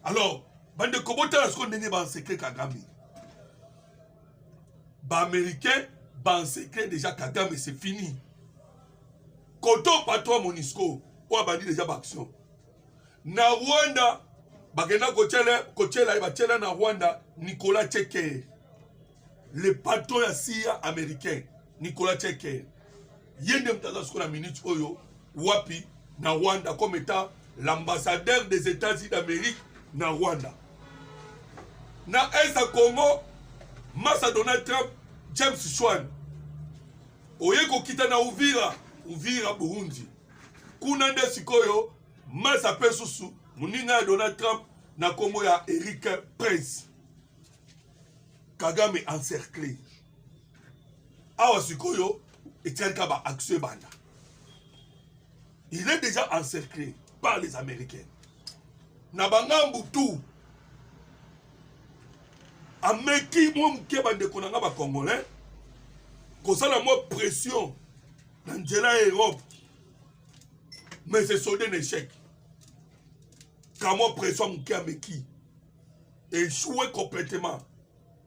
alors bandeko botala sikoyo ndenge bansecre kagame baaméricain bansecre déjà kagame c'est fini koto patron monisco oyo abandi déjà baaction na rwanda bakenda kotyela ye batyela na rwanda nicolas chekere le patron ya cia américain nicolas cheker ye nde moto aza sikoyo na minute oyo wapi na rwanda comme étant l'ambassadeur des états-unis d'amérique na rwanda na est ya congo masa donald trump james shwan oye kokita na uvira uvira burundi kuna nde sikoyo masa mpe susu moninga ya donald trump na nkombo ya eric prince kagame encercle awa sikoyo etikali ka ba action ebanda il est déjà encerclé par les américains na bangambu tout ameki mwa moke bandeko na nga bacongolais kosala mwa pression na nzela ya europe mais se solde na échec kamwa pression moke ameki echoue complètement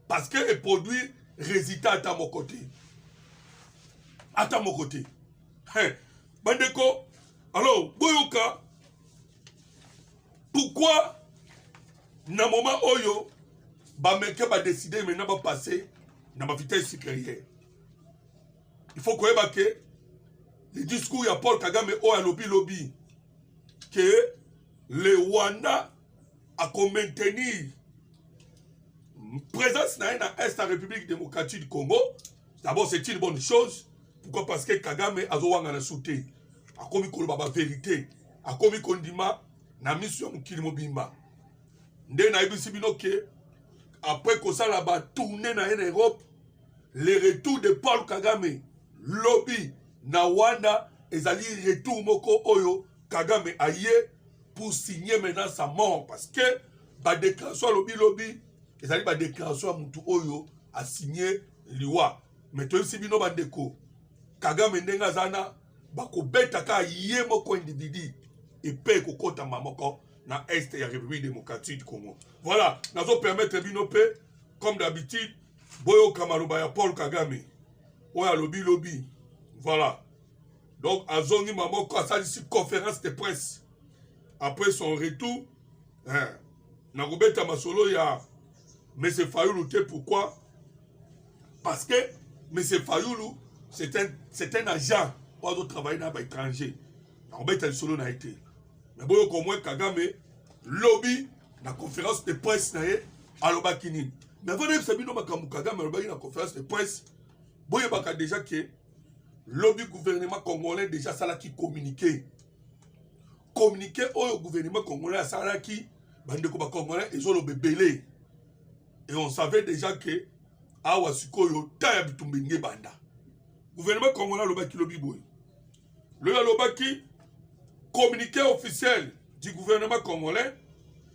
parce que eproduire résultat ata moko te ata moko te hey, bandeko alors boyoka pourquoi na moment oyo bamericain badeside maintenant bapasse na bavitesse supérieure il faut koyeba ke le discours ya paul kagame oyo alobi lobi ke le rwanda à maintenir présence na ye na est ya république démocratique du congo d'abord c'est une bonne chose pourquoi parce que kagame azowangana su te akomi koloba baverité akomi kondima na miso ya mokili mobimba nde nayebisi bino ke après kosala batourne na ye na europe le retour de paul kagame lobi na wanda ezali retour moko oyo kagame aye pour signer maintenant sa mort parce que badéclaration alobi lobi ezali badéclaration ya motu oyo asigne liwa me toyebisi bino bandeko kagame ndenge aza na bakobeta kaka ye moko individu epe ekokotama moko na est ya république démocratique du congo voilà nazo permettre bino mpe comme d'habitude boyoka maloba ya paul kagame oyo alobi lobi voilà donc azongi maboko asalisi conférence de presse après son retour eh, na kobeta masolo ya monsieur fayulu te pourquoi parce que monsieur fayulu c'est un, c'est un agent oyo azotravaille na baétranger na kobeta lisolo na ye te me boyoka omwe kagame lobi na conférence de presse na ye alobaki nini me avanda yebisa bino makambo kagame alobaki na conférence de presse boyebaka déjà ke lobi gouvernement congolais déjà asalaki communiqué communiqué oyo gouvernement congolais asalaki bandeko bacongolais ezoloba ebele et on savait déjà que awa sikoyo ta ya bitumba elingi ebanda gouvernement congolais alobaki lobi boye loyo alobaki communiqué officiel du gouvernement congolais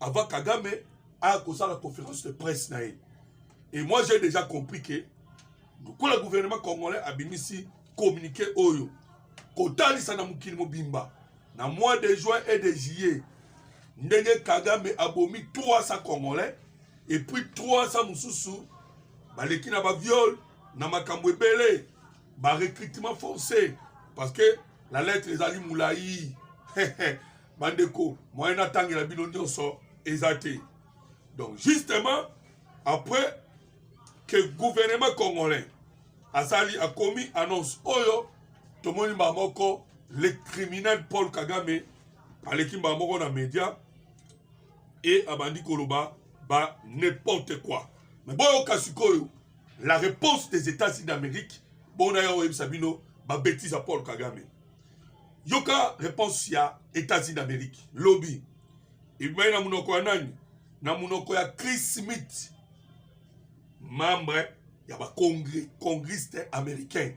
avant kagame aya kosala conférence de presse na ye et moi j'ai déjà compris que lokola gouvernement congolais abimisi communiqué oyo kotalisa na mokili mobimba na mois de juin et de juillet ndenge kagame abomi 300 congolais et puis 300 mosusu baleki na baviole na makambo ebele barecrutement forcé parce que la lettre ezali molai bandeko moyen natangela bino nyonso eza te donc justement après que gouvernement congolais asali akomi annonce oyo tomoni mbaa moko le criminel paul kagame aleki mbaa moko na média e abandi koloba ba n'importe quoi me boyoka sikoyo la réponse des états-unis d'amérique bona ya oyebisa bino babetise ya paul kagame yoka reponse ya etats-unis d'amerique lobi ebimaki na monoko ya nani na monoko ya chris smith membre ya bacongriste américain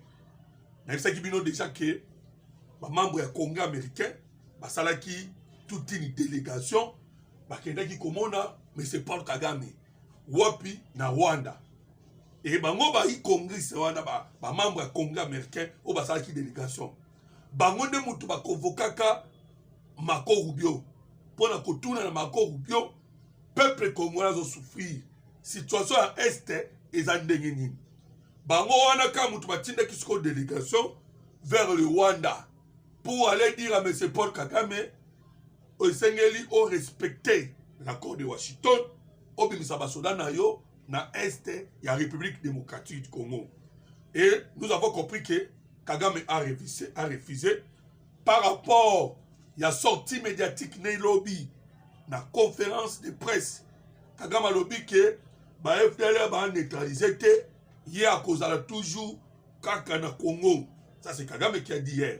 nayebisaki bino deja ke bamembre ya congrès américain basalaki toute une délégation bakendaki komona monsieur paul kagame wapi na rwanda e bango bayi congrès wana bamembre ba ya congrès américain oyo basalaki délégation bango nde moto bakovokaka mako rubio mpo na kotuna na mako rubio peuple congolais azosouffrir situation ya este eza ndenge nini bango wana kaka moto batindaki sikoyo délégation vers le rwanda pour aller dire à monsieur paul kagame esengeli o respecter l'accord de washington obimisa basoda na yo na est ya république démocratique du congo et nous avons compris que kagame a refusé, a refusé par rapport ya sortie médiatique na elobi na conférence de presse kagame alobi ke ba fdl ba neutralise te ye akozala toujours kaka na congo ça c'est kagame qui a dit hier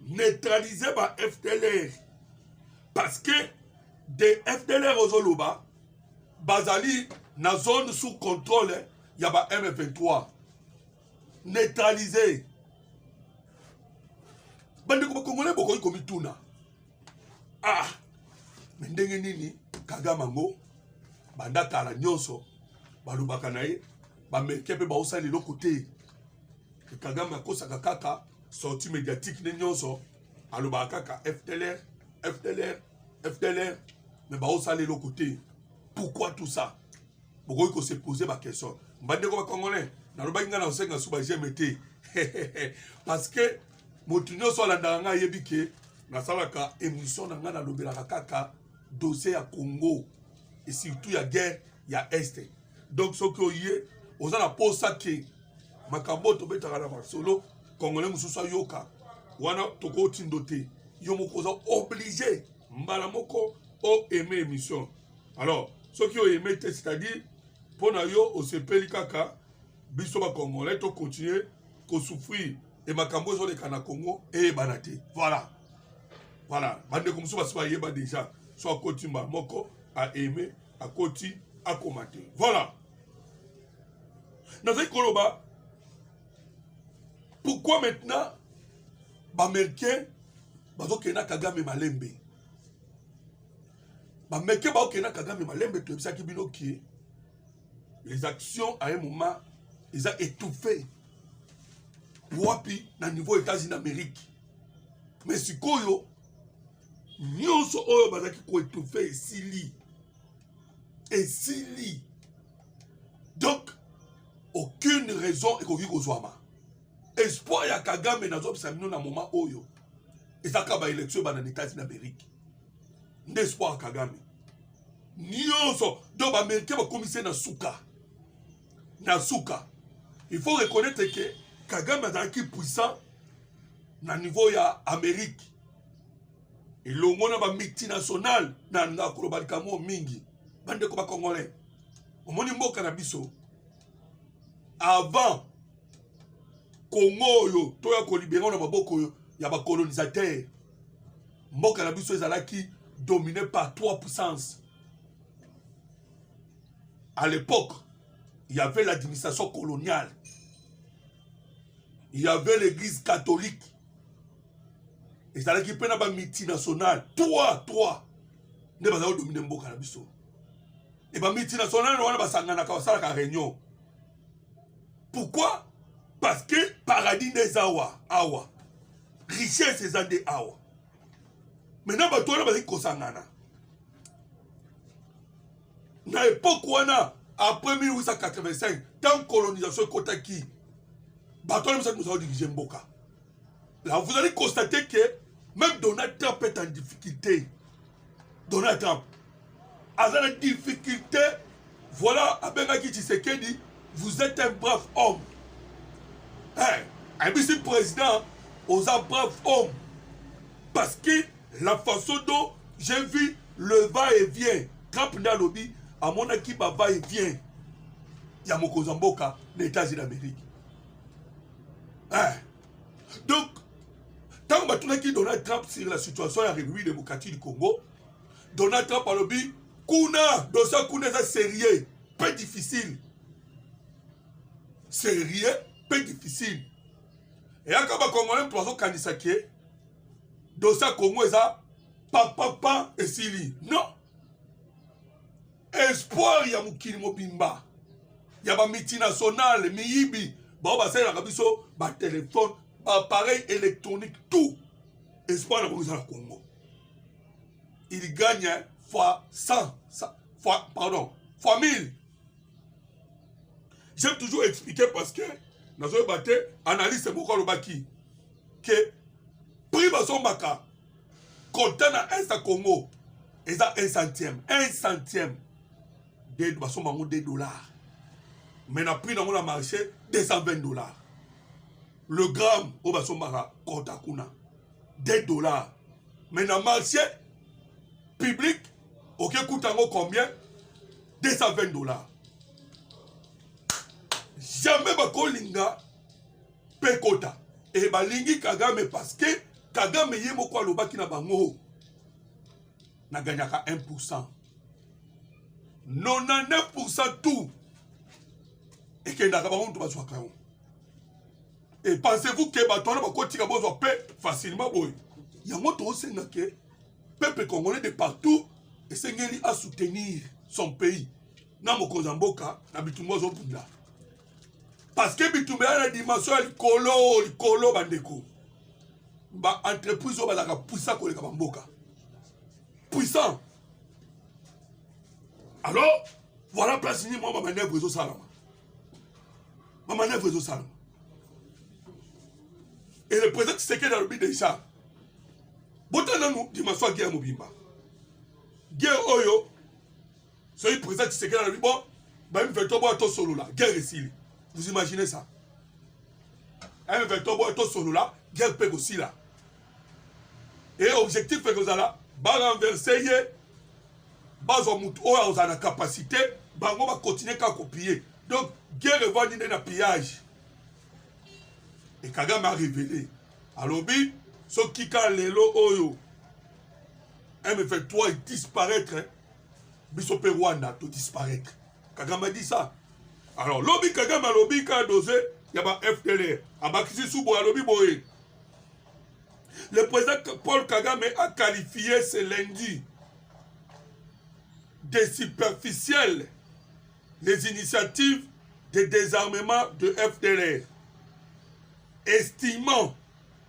neutraliser ba fdlr parce que de fdlr ozoloba bazali na zone sous contrôle ya ba m23 neutraliser bandeko bakongole bokoki komituna ah me ndenge nini kagame yango banda kala nyonso balobaka na ye baamerikain mpe baosala eloko te kagame akosaka kaka sorti médiatique nde nyonso alobaka kaka fdlr fdlr fdlr me baosala eloko te pourquoi tout ça bokoki kose pose baquestion mbandeko bacongolais nalobaki ngai na osenga su bageme te parce que moto nyonso alandaka ngai ayebi ke nasalaka émission na ngai nalobelaka kaka dossier ya congo et surtout ya guerre ya este donc soki oye oza na posa ke makambo oyo tobetaka na masolo congolais mosusu ayoka wana tokotindo te yo moko oza oblige mbala moko o aime émission alors soki oyeme te c'est-à-dire mpo na yo osepeli kaka biso bacongolais tokontinue kosouffrir e makambo ezoleka na congo eyebana te voilà voilà bandeko mosusu basi bayeba déjà so akoti mbala moko aime akoti akoma te voilà nazali koloba pourquoi maintenant baaméricain bazokende na kagame malembe bameke baokende na kagame malembe toyebisaki bino kie les actions à un moment eza étouffé wapi na niveau états-unis d'amérique mais sikoyo nyonso oyo bazalaki koétouffe esili esili donc aucune raison ekoki kozwama espoir ya kagame nazobisa bino na moma oyo ezaka baélection ebanda na etats-unis d'amérique nde espoir ya kagame nyonso donc baaméricain bakomisi na suka na suka il faut reconnaître ke kagame azalaki puissant na niveau ya amérique elongo na ba multinationale na ndako loba likambo mingi bandeko ba congolais omoni mboka na biso avant kongo oyo toya kolibere na maboko oyo ya bacolonisateur mboka na biso ezalaki domine par trois puissance à l'époque il y avait l'administration coloniale il y avait l'église catholique ezalaki mpe na bamultinationale 3 3 nde bazali kodomine mboka na biso e bamultinationale wana basanganaka basalaka réunion pourquoi parce que paradis nde eza awa awa richesse eza nde awa maintenant bato wana bazali kosangana na epoque wana après 1885 tant colonisation ekotaki bato wana misatu mozala dirige mboka la vous allez constater que même donald trump est en difficulté donald trump aza na difficulté voilà abengaki tshisekedi vous êtes un brave homme hey, ayebisi président oza brave homme parce que la façon dont j'ai vu le va et vient trump nde alobi amonaki ba va et vient ya mokonzi ya mboka na états-unis d'amérique eh. donc ntango batunaki donald trump sur la situation ya république démocratique du congo donald trump alobi kuna dosa kuna eza sérieux mpe difficile sérieux mpe difficile eyaka bakongolais mpo bazokanisa ke dosa congo eza papapa esili non espoir ya mokili mobimba ya bamultinationale miyibi bao basalelaka biso batelefone baappareil électronique tout espoir na bango eza na congo il gagne fois 100 fois pardon fois 1000 j'aime toujours expliquer parce que nazoyeba te analyste moko alobaki ke prix bazombaka kota na est ya congo eza un centième un centième de basomba yango 2 dollars mais na prix nango na marché 220 dollars le gramme oyo basombaka kota kuna 2 dollars mais na marché public oke kuta yango combien 220 dollars jamais bakolinga pe kota e balingi kagame parce que kagame ye moko alobaki na bango naganyaka 1 pourcent 99 pourcent tout ekendaka bango moto bazwaka yango e pensez-vous ke bato wana bakotika bozwa pe facilement boye yango tosenga ke peuple congolais de partout esengeli asoutenir son pays na mokonzi ya mboka na bitumba azobunda parceke bitumba ya na dimension ya likolo likolo bandeko baentreprise oyo bazalaka puissant koleka bamboka puissant alors voilà place nini mwa bamanevre ezosalama bamanevre ezosalama et le président tisekedi alobi deja botala nanu dimension ya guerre mobimba guerre oyo soki président tshisekedi alobi bo bayebi veto boya tosolola guerre esili vous imaginez ça ayebi veto boya tosolola guerre mpe kosila e objectif mpe kozala barenverse ye bazwa motu oyo akozala na capacité bango bakontinue kaka kopille donc guerre evandi nde na pillage e kagame arevele alobi soki ka lelo oyo m23 disparaître biso mpe rwanda to disparaître kagame adi ça alors lobi kagame alobi ka dose ya ba fdlr abakisi subo alobi boye le président paul kagame a qualifié ce lundi des superficielles les initiatives de désarmement de FDLR, estimant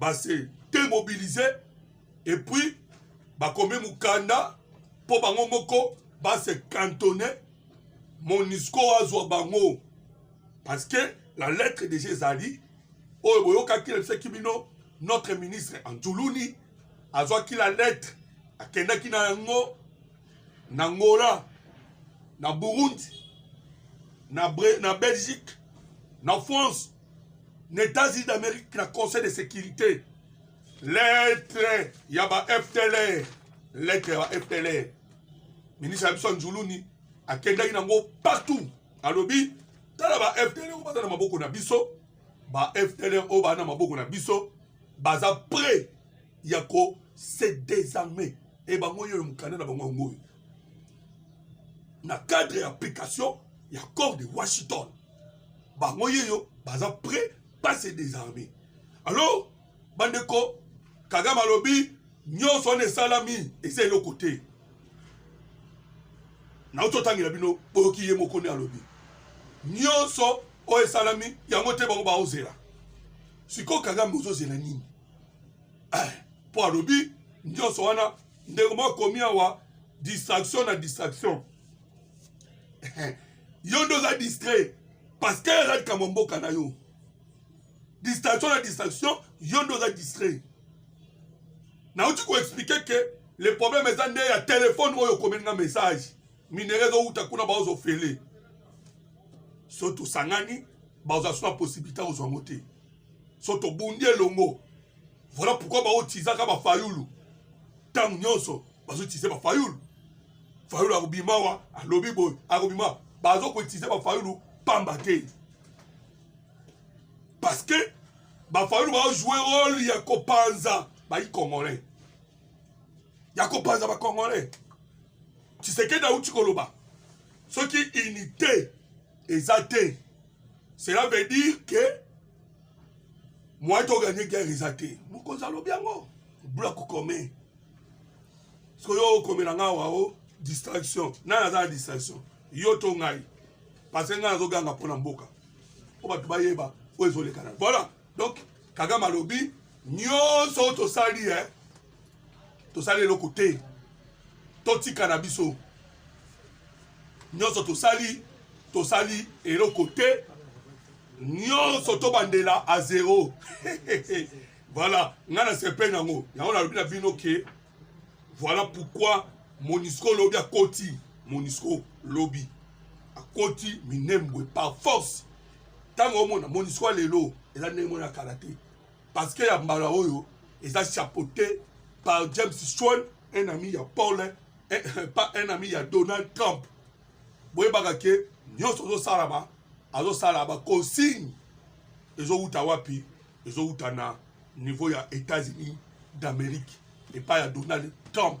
base demobilise epuis bakomi mokanda mpo bango moko base cantone monisco azwa bango parce que la lettre déjà ezali oyo boyokaki nabisaki bino notre ministre antuluni azwaki la lettre akendaki na yango na angola na burundi na, na belgique na france na États-Unis d'Amérique na Conseil de sécurité lettre ya ba FTLR lettre ya ba FTLR ministre ya biso ya Njuluni akendaki nango partout alobi tala ba FTLR oyo baza na maboko na biso ba FTLR oyo baza na maboko na biso baza prêt ya ko se désarmer e bango oyo mokanda na bango yango oyo na cadre ya application ya corps de washington bango yeyo baza prêt pas se désarmer alors bandeko kagame alobi nyonso wana esalami eza eloko te nauti otangela bino boyoki ye moko nde alobi nyonso oyo esalami yango te bango baozela sikoyo kagame ozozela nini mpo eh, alobi nyonso wana ndeko moko akomi awa distraction na distraction yo nde oza distrait parce que aza likambo ya mboka na yo distraction na distraction yo nde oza distrait nauti koexplike ke le problème eza nde ya telefone oyo okomeli nga message minere ezowuta kuna baozofele so tosangani bazwa so na possibilité ozwa yango te so tobundi elongo Voilà pourquoi bao tizaka ba fayulu tango nyonso bazo tize ba fayulu fayulu akobima wa alobi boye akobima bazo kotize ba fayulu pamba te parce que ba fayulu bao jouer rôle ya kopanza bayi congolais ya kopanza ba congolais tshisekedi auti koloba soki unité eza te cela veut dire que moyen to gagner guerre eza te mokonzi alobi yango bula kokome soki yo okomela ngai awa o distraction nani aza na distraction yo to ngai parce que ngai nazoganga mpo na mboka mpo bato bayeba oyo ezolekana voilà donc kagame alobi nyonso oyo tosali e tosali eloko te totika na biso nyonso tosali tosali eloko te nyonso tobandela a zero voilà ngai nasepeli nango yango nalobi na bino ke voilà pourquoi monisco lobi akoti monisco lobi akoti minembwe par force ntango omona monisco ya lelo eza ndenge mona kala te Parce que ya mbala oyo eza chapeauté par James Swan, un ami ya Paul, un, pas un ami ya Donald Trump. Boyebaka ke nyonso ozosalama azosala ba consigne ezowuta wapi? Ezowuta na niveau ya États-Unis d'Amérique epai ya Donald Trump.